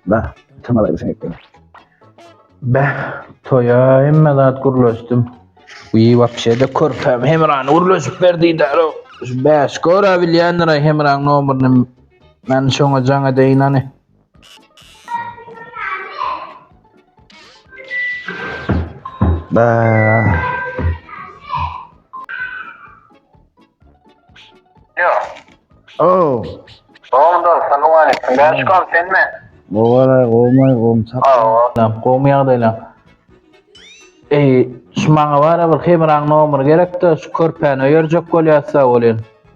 Bah, tamalaýyn sen etdim. Bah, toýa hemme zat gurlaşdym. Uý, wapşe-de körpäm Hemrany gurlaşyp berdide. Bäş, göra bilýändir-aý Hemraň nomerini. Men şoňa jaň edeýin, hany. Oh. Ondan salam aleyküm. Ben çıkan sen mi? Ovalar, omay, omçak. Lan gomy ýagdaýlar. Eý, şu maňa bara bir hemraň nomer gerekdi, şu körpäni öýerjek bolýarsa bolýan.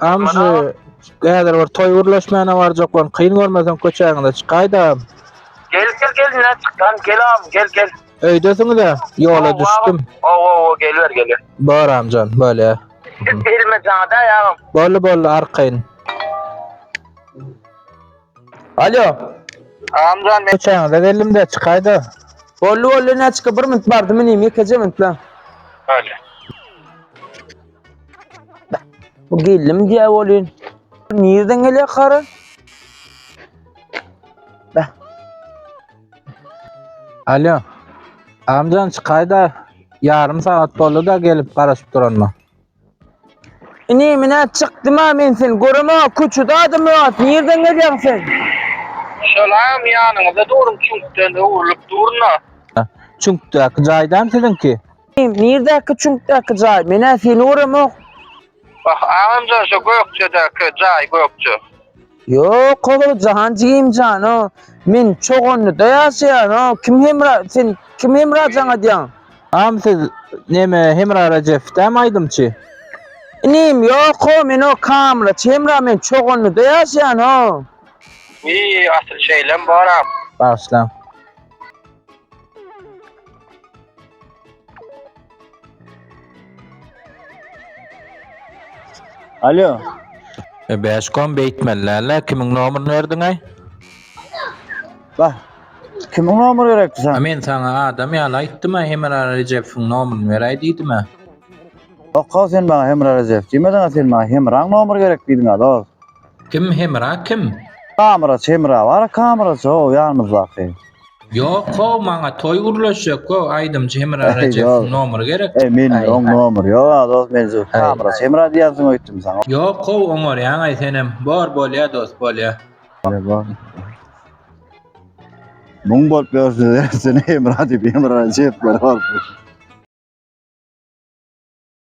Amşy häzir bir toý gürleşmäne barjak bolun. Kyn görmeseň köçäňize çykaýda. Gel gel gel ne çıkan gel am gel gel. Öýdesiňiz-ä? Ýola düşdüm. Ow ow ow geliber geliber. Bar amjan bolýa. Git elime jaňada ýagam. Bolly bolly arkaýyn. Alo. Amjan men köçäňize geldim-de çykaýda. Bolly bolly näçe bir minut bardymy nemi ýekeje minut la. Bolýa. Bu geldim diýä bolýan. Nirden gelýär kara? Bäh. Alo. Amcan çykaýda ýarym sagat boldy da gelip garaşyp duranma. Ini menä çykdym ha men sen göreme köçede adam ýok. Nirden gelýäň sen? Şolam ýanyňyzda durun çüňkden öwrülip durna. Çüňkdäki jaýdam siziňki? Nirdäki çüňkdäki jaý? Menä seni göremok. Wah, agamjan şu Gökjedäki jaý, Gökje. Ýok, Howly jahan jigim jan, o, men Çoganlyda ýaşaýan, o, kim Hemra, sen kim Hemra jan adýaň? Agam siz neme Hemra Rejef dämi aýdymçy? Inim, ýok, ho, men o kameraçy Hemra, men Çoganlyda ýaşaýan, ho. Wiý, asyl şeýlem boram. Bagyşlaň. Alo. E, Beşkom beýtmellärler. Kimiň nomerini berdiňä? Bah. Kimiň nomeri gerekdi A sana? men saňa adam ýaly aýtdym, a Hemra Rejepowyň nomerini beräý diýdim. a. Okga sen bana Hemra Recep diýmediň, a sen bana Hemraň nomeri gerek diýdiň a dost. Kim Hemra kim? Kameraçy Hemra bar, kameraçy o ýanymyzdaky. Yok o maňa toy gürleşjek o aýdymçy Hemra Rejepsiň nomeri gerek. E men oň nomeri ýok a dost men şu Hemra Hemra diýersiň öýtdüm saňa. Ýok o oňarýaň aý senem. Bor bolýa dost bolýa. Muň bolup ýörse sen Hemra diýip Hemra Rejep bolup.